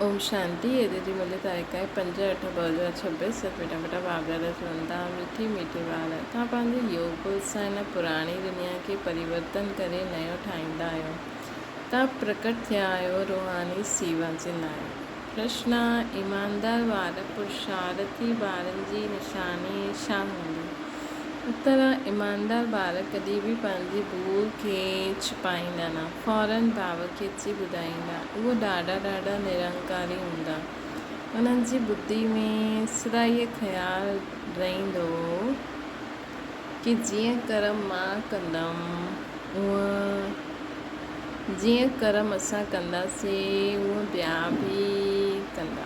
اوم شانتي اڄ جي ملي تاريخ آهي پنج اٺ ٻه هزار ڇهه سؤ ڦٽا ڦٽا واڳاڙا چوندا ميٺي ميٺي وار توهان پنهنجي يوگ بل سان هن پراڻي دنيا کي پريورتن ڪري نيو ٺاهيندا آهيو توهان پرڪٽ ٿيا آهيو روحاني سيوا جي لاء ڪرشنا ايماندار وار پرشارٿي ٻارن جي نشاني ڇا هوندي؟ طرح ايماندار ٻار ڪڏهن به پنهنجي ڀول کي ڇپائيندا نه، فوراً ڀاء کي اچي ٻڌائيندا. اهي ڏاڍا ڏاڍا نرنڪاري هوندا. انهن جي ٻڌي ۾ سدا اهي خيال رهندو هو ڪي جيئن ڪرم مان ڪندم اهئن جيئن ڪرم اسان ڪنداسين اهئن ٻيا به ڪندا.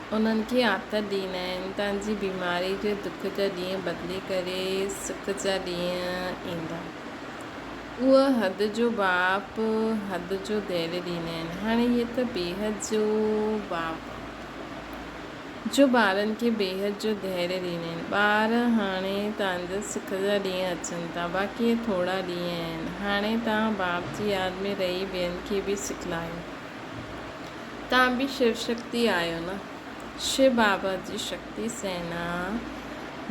انهن کي آٿت ڏيندا آهن تان جي بيماري جي دک جا ڏينهن بدلي ڪري سک جا ڏينهن ايندا. اهي حد جو ٻاپ حد جو ديري ڏيندا آهن. هاڻي هي ته بيحد جو ٻاپ جو ٻارن کي بيحد جو ديري ڏيندا آهن. ٻار هاڻي تان جا سک جا ڏينهن اچن ٿا باقي اهي ٿورا ڏينهن آهن. هاڻي تان ٻاپ جي ياد ۾ رهي ٻين کي به سک لاهيو. تان به شو شڪتي آهيو نه. شو بابا جي شڪتي سينا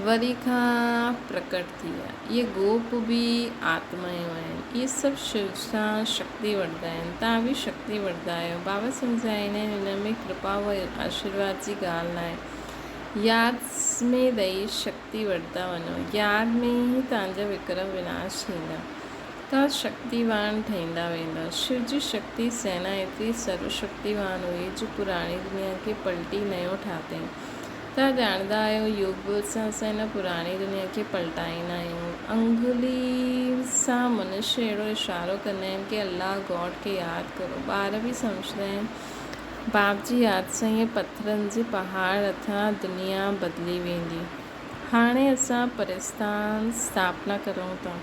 وري کان پرڪٽ ٿي آهي. اهي گوپ به آتمايون آهن. اهي سڀ شو سان شڪتي وٺندا آهن. تان به شڪتي وٺندا آهيو. بابا سمجهائين آهن ان ۾ ڪرپا و آشيرواد جي ڳالهه ناهي. ياد ۾ رهي شڪتي وٺندا وڃو. ياد ۾ ئي تان جا وڪرم وناش ٿيندا. ته شڪتيوان ٺهيندا ويندا. شو جي شڪتي سينا ايتري سرو شڪتيوان هئي جو پراڻي دنيا کي پلٽي نيون ٺاهتائين. توهان ڄاڻندا آهيو يوگ بل سان اسان هن پراڻي دنيا کي پلٽائيندا آهيون. انگلي سان منشي اهڙو اشارو ڪندا آهن ڪي الله گاڊ کي ياد ڪرو. ٻار به سمجهندا آهن. باپ جي ياد سان اهي پٿرن جي پهاڙ هٿران دنيا بدلي ويندي. هاڻي اسان پرستان ستاپنا ڪريون ٿا.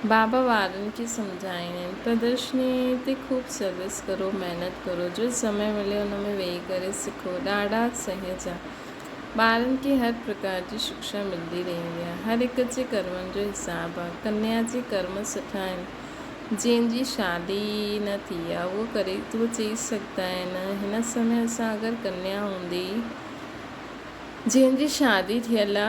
بابا وارن کي سمجهائين ۽ پردرشني تي خوب سروس ڪرو محنت ڪرو جو سمي ملي ان ۾ ويهي ڪري سکو ڏاڍا سهج آ ٻارن کي هر پرڪار جي شڪشا ملدي رهندي آ هر هڪ جي ڪرمن جو حساب آ ڪنيا جي ڪرم سٺا آهن جنهن جي شادي ئي نه ٿي آ اهو ڪري ٿو چئي سگهدا آهن هن سمي اسان اگر ڪنيا هوندي جنهن جي شادي ٿيل آ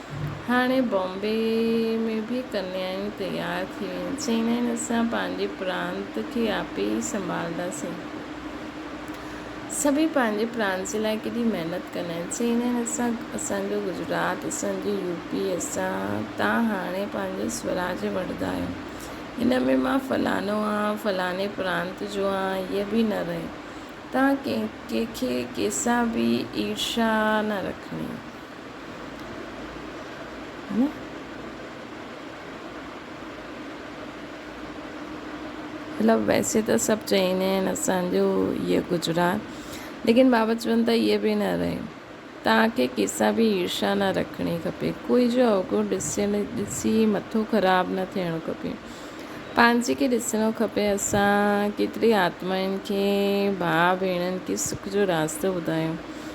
هاڻي بامبي ۾ به ڪنيايون تيار ٿي ويون آهن. چيندا آهن اسان پنهنجي پرانت کي آپي ئي سنڀالنداسين. سڀئي پنهنجي پرانت جي لاء ڪيڏي محنت ڪندا آهن. چيندا آهن اسان اسان جو گجرات، اسان جي يو پي، اسان تان هاڻي پنهنجو سوراج وٺندا آهيون. هن ۾ مان فلانو آهان، فلاني پرانت جو آهان هيء به نه رهي. تان ڪنهن کي ڪنهن سان به عيرشا نه رکڻي. مطلب ويسي ته سڀ چئيندا آهن اسانجو هيء گجرات ليڪن بابا چون ٿا هيء به نه رهي. توهان کي ڪنهن سان به عيرشا نه رکڻي کپي. ڪوئي جو اوگهڙ ڏسيل ڏسي مٿو خراب نه ٿيڻو کپي. پنهنجي کي ڏسڻو کپي. اسان ڪيتري آتمائن کي، ڀاء ڀيڻن کي سک جو راستو ٻڌايو.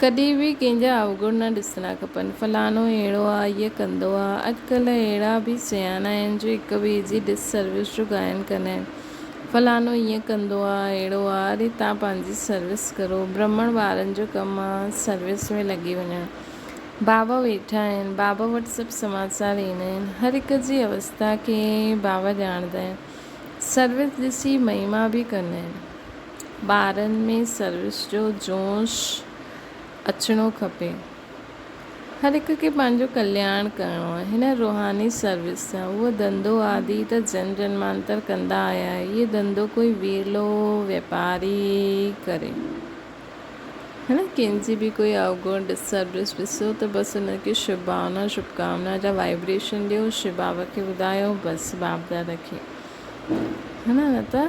ڪڏهن به ڪنهن جا اوگڻ نه ڏسڻا کپن، فلاڻو اهڙو آ، هيء ڪندو آ. اڄڪلهه اهڙا به سياڻا آهن جو هڪ ٻئي جي ڊس سروس جو گائن ڪندا آهن، فلاڻو هيئن ڪندو آ، اهڙو آ، اڙي توهان پنهنجي سروس ڪرو، برهمڻ ٻارن جو ڪم آ سروس ۾ لڳي وڃڻ. بابا ويٺا آهن، بابا وٽ سڀ سماچار ايندا آهن، هر هڪ جي اوستا کي بابا ڄاڻندا آهن، سروس ڏسي مهما به ڪندا آهن. ٻارن ۾ سروس جو جوش اچڻو کپي. هر هڪ کي پنهنجو ڪلياڻ ڪرڻو آهي. هن روحاني سروس سان اهو ڌنڌو آدي ته جن جنمانتر ڪندا آيا آهي. هيء ڌنڌو ڪوئي ويلو واپاري ڪري. هن ڪنهن جي به ڪوئي اوگڻ Disturbance ڏسو ته بس ان کي شڀ ڀاونا شڀ ڪامنا جا Vibration ڏيو شي بابا کي ٻڌايو بس بابداد کي نه ته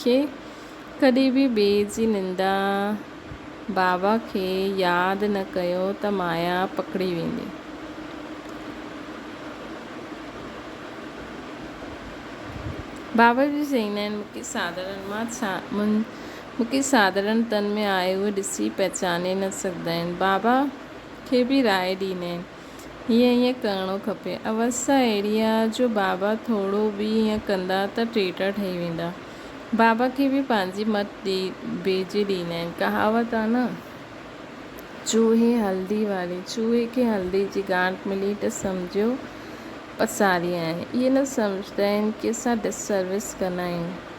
کي ڪڏهن به ٻئي جي نندا بابا کي ياد نه ڪيو ته مايا پڪڙي ويندي. بابا جي چئين آهن مونکي ساڌڙن مان ڇا مونکي ساڌڙن تن ۾ آهي اهو ڏسي پهچاني نه سگهندا آهن. بابا کي به راء ڏيندا آهن. ائين ئي ڪرڻو کپي. اوس اهڙي آ جو بابا ٿورو به ائين ڪندا ته ٽيٽا ٺهي ويندا. بابا کي به پنهنجي مت ڏي ڀيڄي ڏيندا آهن. ڪهاوت آ نه، چوهي هلدي واري، چوهي کي هلدي جي گانٺ ملي ته سمجهيو پساري آهي. اهي نه سمجهندا آهن ڪي اسان ڊس سروس ڪندا آهيون.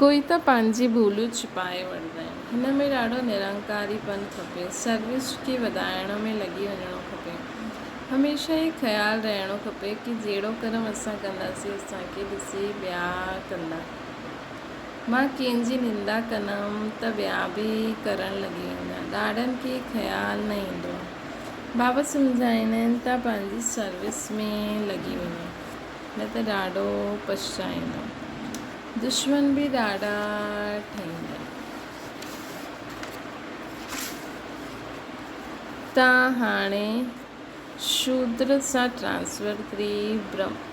ڪوئي ته پنهنجي ڀوليون ڇپائي وٺندا آهن. هن ۾ ڏاڍو نرنڪاري پن کپي. سروس کي وڌائڻ ۾ لڳي وڃڻو کپي. هميشه هي خيال رهڻو کپي ڪي جهڙو ڪرم اسان ڪنداسين اسان کي ڏسي ٻيا ڪندا. مان ڪنهن جي نندا ڪندم ته ٻيا به ڪرڻ لڳي ويندا. ڏاڍن کي خيال نه ايندو. بابا سمجهائيندا آهن ته پنهنجي سروس ۾ لڳي وڃ نه ته ڏاڍو پڇتائيندين. دشمن به ڏاڍا ٺهيندين. تان هاڻي شودر سان ٽرانسفر ڪري برهمڻ.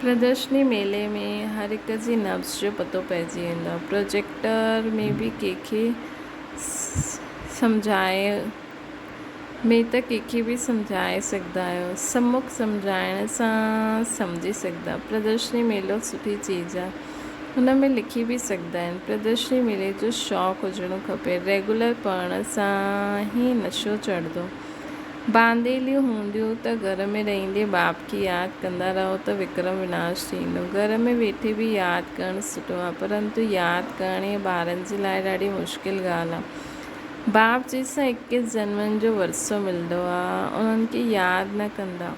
پردرشني ميلي ۾ هر هڪ جي نبض جو پتو پئجي ويندو آهي. پروجيڪٽر ۾ به ڪنهن کي سمجهائي ۾ ته ڪنهن کي به سمجهائي سگهندا آهيو. سمک سمجهائڻ سان سمجهي سگهندا. پردرشني ميلو سٺي چيز آهي. هن ۾ لکي به سگهندا آهن. پردرشني ميلي جو شوق هجڻو کپي. ريگولر پڙهڻ سان هي نشو چڙهندو. بانديليون هونديون ته گهر ۾ رهيندي باب کي ياد ڪندا رهو ته وڪرم وناش ٿيندو. گهر ۾ ويٺي به ياد ڪرڻ سٺو آهي پرنتو ياد ڪرڻ هيء ٻارن جي لاء ڏاڍي مشڪل ڳالهه آهي. باب جنهن سان اڪيس جنمن جو ورثو ملندو آهي انهن کي ياد نه ڪندا.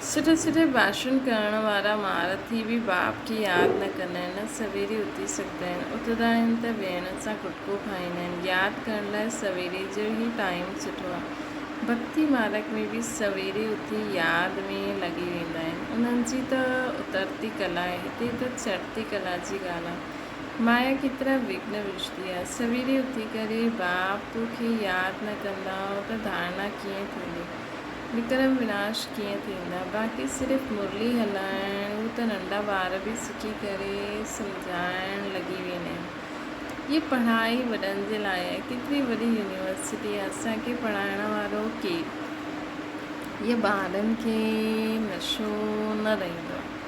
سٺي سٺي ڀاشڻ ڪرڻ وارا مھارٿي به باپ کي ياد نه ڪندا آھن نه سويري اٿي سگھندا آھن اٿندا آھن ته ويھڻ سان ڪٽڪو کائيندا آھن ياد ڪرڻ لاء سويري جو ئي ٽائيم سٺو آھي ڀڳتي مارگ ۾ به سويري اٿي ياد ۾ لڳي ويندا آھن انھن جي ته اترتي ڪلا آھي ھتي ته چڙھتي ڪلا جي ڳالھ آھي مايا ڪيترا وگهن وجهندي آ. سويري اٿي ڪري باپ تو کي ياد نه ڪندا ته ڌارڻا ڪيئن ٿيندي. وڪرم وناش ڪيئن ٿيندا. باقي صرف مرلي هلائڻ هو ته ننڍا ٻار به سکي ڪري سمجهائڻ لڳي ويندا آهن. هيء پڙهائي وڏن جي لاء آهي. ڪيتري وڏي يونيورسٽي آهي اسان کي پڙهائڻ وارو ڪير. هيء ٻارن کي نشو نه رهندو آهي.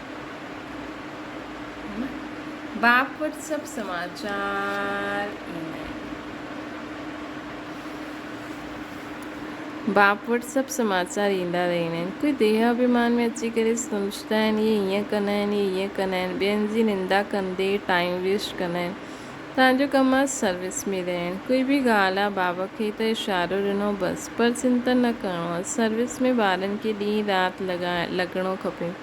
بابت سڀ سماچار ايندا رهيندا آهن. ڪوئي ديهه اڀيمان ۾ اچي ڪري سمجهندا آهن اهي هيئن ڪندا آهن اهي هيئن ڪندا آهن ٻين جي نندا ڪندي ٽائيم ويسٽ ڪندا آهن تنهنجو ڪم آهي سروس ۾ رهڻ ڪوئي به ڳالهه آهي بابا کي ته اشارو ڏنو بس پر چنتن نه ڪرڻو آهي سروس ۾ ٻارن کي ڏينهن رات لڳڻو کپي.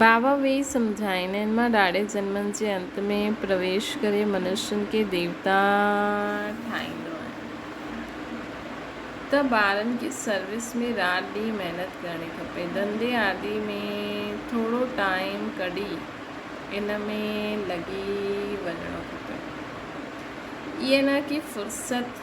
ڀاو ويهي سمجهائين، هن مان ڏاڙهي جنمن جي انت ۾ پرويش ڪري منشين کي ديوتا ٺاهيندو آهي ته ٻارن جي سروس ۾ رات ڏينهن محنت ڪرڻي کپي. ڌنڌي آدي ۾ ٿورو ٽائيم ڪڍي ان ۾ لڳي وڃڻو کپي. ائين نه ڪي فرصت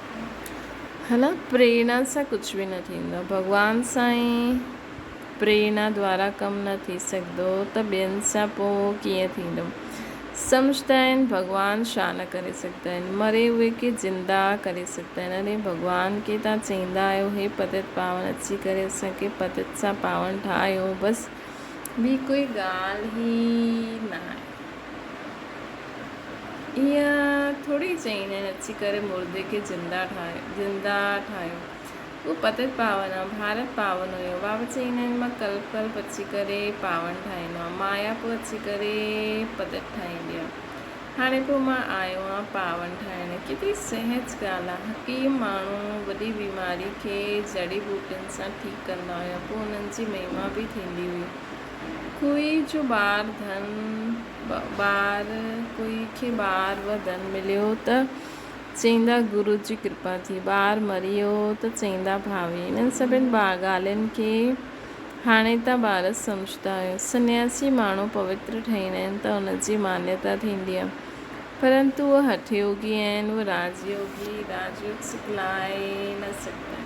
هن پريرنا سان ڪجهه به نه ٿيندو. ڀڳوان سان ئي پريرنا دوارا ڪم نه ٿي سگهندو ته ٻين سان پوء ڪيئن ٿيندو؟ سمجهندا آهن ڀڳوان ڇا نه ڪري سگهندا آهن؟ مري هئي کي زنده ڪري سگهندا آهن. اڙي ڀڳوان کي توهان چئيندا آهيو هي پتت پاون اچي ڪري اسان کي پتت سان پاون ٺاهيو بس ٻي ڪوئي ڳالهه ئي ناهي. ايئن ٿوري چئين ۽ اچي ڪري مردي کي زنده ٺاهيو. اهو پتت پاون آهي، ڀارت پاون هيو. بابا چئين آهن مان ڪلپ ڪلپ اچي ڪري پاون ٺاهيندو آهيان. مايا پوء اچي ڪري پتت ٺاهيندي آهي. هاڻي پوء مان آيو آهيان پاون ٺاهڻ. ڪيتري سهج ڳالهه آهي. حڪيم ماڻهو وڏي بيماري کي جڙي ٻوٽين سان ٺيڪ ڪندا هيا. پوء انهن جي مهما به ٿيندي هئي. کوئي جو ٻار ڌن ٻار کوئي کي ٻار و ڌن مليو ته چئيندا گرو جي ڪرپا ٿي ٻار مريو ته چئيندا ڀاوي انهن سڀني ڳالهين کي هاڻي ته ٻار سمجهندا آهن سنياسي ماڻهو پوتر ٺهيندا آهن ته ان جي مانيتا ٿيندي آهي پرنتو اهي هٺ يوگي آهن اهي راج يوگي راج يوگ سکلائي نه سگهندا آهن.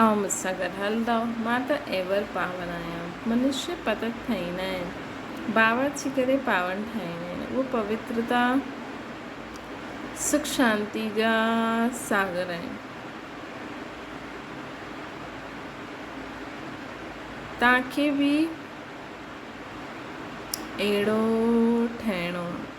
اوهان مون سان گڏ هلندؤ، مان ته ايور پاون آهيان. منشي پتڪ ٺاهيندا آهن، باورچي ڪري پاون ٺاهيندا آهن، اهي پوترتا، سک شانتي جا ساگر آهن. توهان کي به اهڙو ٺهڻو آهي.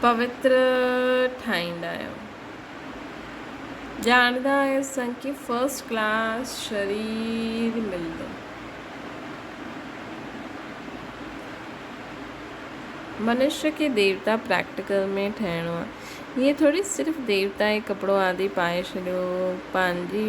پوتر ٺاهيندا آهيون ڄاڻندا آهيون اسان کي فرسٽ ڪلاس شرير ملندو منشيٰ کي ديوتا پريڪٽيڪل ۾ ٺهڻو آهي هيء ٿوري صرف ديوتا ئي ڪپڙو آدي پائي ڇڏيو پنهنجي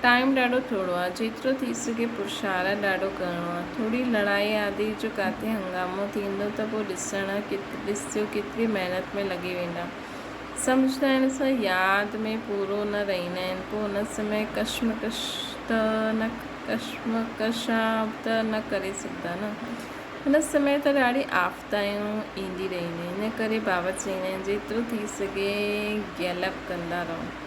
ٽائيم ڏاڍو ٿورو آ جيترو ٿي سگهي پرشارت ڏاڍو ڪرڻو آ ٿوري لڙائي آدي جو ڪاٿي هنگامو ٿيندو ته پوء ڏسڻ ڏس جو ڪيتري محنت ۾ لڳي ويندا سمجهندا آهن سو ياد ۾ پورو نه رهيندا آهن پوء ان سمي ڪشمڪش ته نه ڪشمڪش آ ته نه ڪري سگهندا نه ان سمي ته ڏاڍي آفتايون ايندي رهنديون ان ڪري بابا چئيندا آهن جيترو ٿي سگهي گيلپ ڪندا رهو.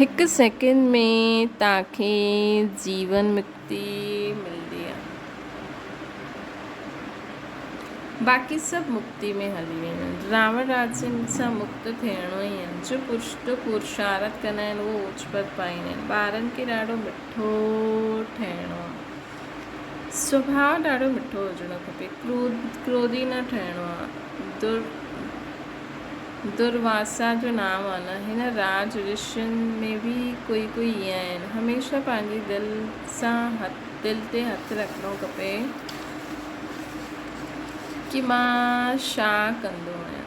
هڪ سيڪنڊ ۾ توهان کي جيون مڪتي ملندي آهي باقي سڀ مڪتي ۾ هلي ويندا آهن راوڻ راجن سان مڪت ٿيڻو ئي آهي جو پرشتو پورشارٿ ڪندا آهن اهو اوچ پت پائيندا آهن ٻارن کي ڏاڍو مٺو ٺهڻو آهي سڀاء ڏاڍو مٺو هجڻو کپي، ڪروڌي نه ٺهڻو آ. درواسا جو نانء آ نه. هن راج رشين ۾ به ڪوئي ڪوئي ايئن آهن. هميشه پنهنجي دل سان دل تي هٿ رکڻو کپي ڪي مان شا ڪندو آهيان.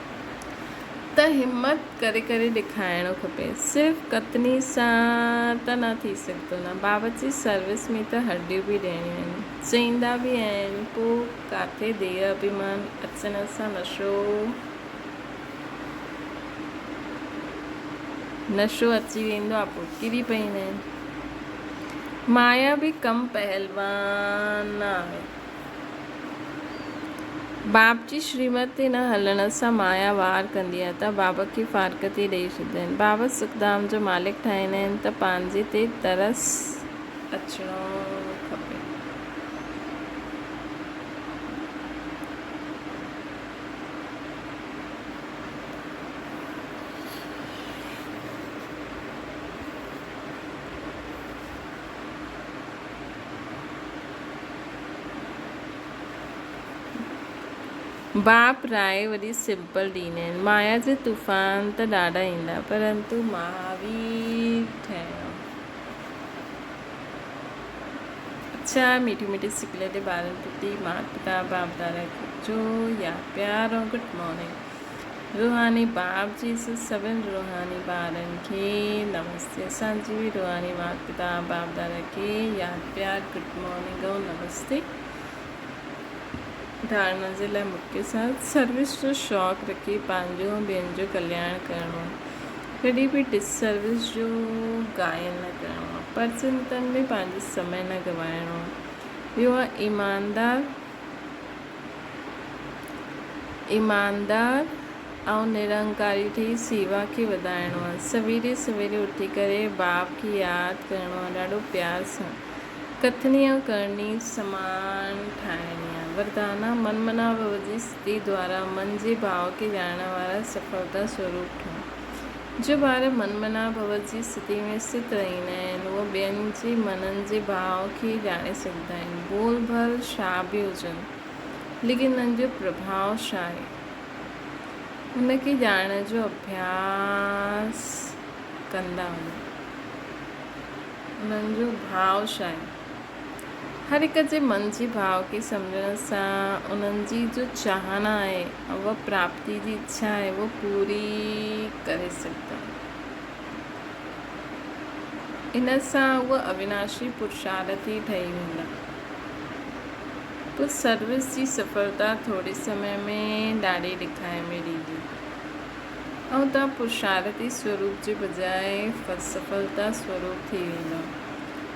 ته همت ڪري ڪري ڏيکارڻو کپي. صرف ڪتني سان ته نه ٿي سگهندو نه. باورچي سروس ۾ ته هرڏيون به ڏيڻيون آهن. چئيندا به آهن. پوء ڪاٿي ديهه اڀيمان اچڻ سان نشو نشو اچي ويندو آ پوء ڪري پئيندا آهن. مايا به ڪم پهلوان آهي. باب جي شريمت تي نه هلڻ سان مايا وار ڪندي آهي ته باب کي فارغتي ڏئي ڇڏيندا آهن. باب سکڌام جو مالڪ ٺاهيندا آهن ته پنهنجي تي ترس اچڻو کپي. باپ راء وڏي سمپل ڏينهن آهن. مايا جي طوفان ته ڏاڍا ايندا پرنتو مهاوير ٺهڻ. اڇا ميٺي ميٺي سڪليٽي ٻارن پٽي ماٽ پتا باپ دادا جو يار پيار ۽ گڊ مارننگ. روحاني باب جي سڀن روحاني ٻارن کي نمستي اسان جي روحاني مات پتا باب دادا کي ياد پيار گڊ مارننگ ۽ نمستي ڌارڻا جي لاء مون کي ساٿ سروس جو شوق رکي پنهنجو ۽ ٻين جو ڪلياڻ ڪرڻو ڪڏهن به ڊس سروس جو گائن نه ڪرڻو پر چنتن ۾ پنهنجو سمي نه گوائڻو ٻيو ايماندار ايماندار ۽ نرنڪاري ٺهي سيوا کي وڌائڻو آهي. سويري سويري اٿي ڪري باپ کي ياد ڪرڻو آهي ڏاڍو پيار سان. ڪٿڻي ۽ ڪرڻي سمان ٺاهڻي آهي. وردانا من منا ڀوء جي ستي دوارا من جي ڀاء کي ڄاڻڻ وارا سڦلتا سوروپ ٺهو. جو ٻار من منا ڀو جي استھتي ۾ سٿ رھيندا آھن، اھي ٻين جي منن جي ڀاء کي ڄاڻي سگھندا آھن، ڀول ڀل شاھ به ھجن، ليڪن انھن جو پرڀاء ڇا آھي، ان کي ڄاڻڻ جو اڀياس ڪندا وڃو، انھن جو ڀاء ڇا آھي. هر هڪ جي من جي ڀاء کي سمجهڻ سان انهن جي جو چاهنا آهي و پراپتي جي اڇا آهي اهو پوري ڪري سگهندا. ان سان اهو اويناشي پرشارٿ ئي ٺهي ويندا. پوء سروس جي سڦلتا ٿوري سمي ۾ ڏاڙهي ڏکائي ۾ ريندي ۽ توهان پرشارٿي سوروپ جي بجاء سڦلتا سوروپ ٿي ويندا.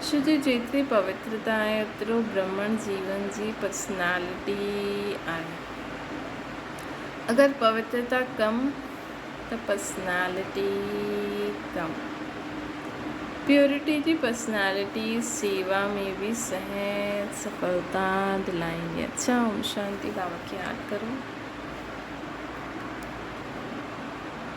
ڪش جي جيتري پوترتا آهي اوترو برهمڻ جيون جي پرسنالٽي آهي. اگر پوترتا ڪم ته پرسنالٽي ڪم. پيورٽي جي پرسنالٽي سيوا ۾ به سهڻي سڦلتا دلائيندي آهي. اوم شانتي بابا کي ياد ڪرو.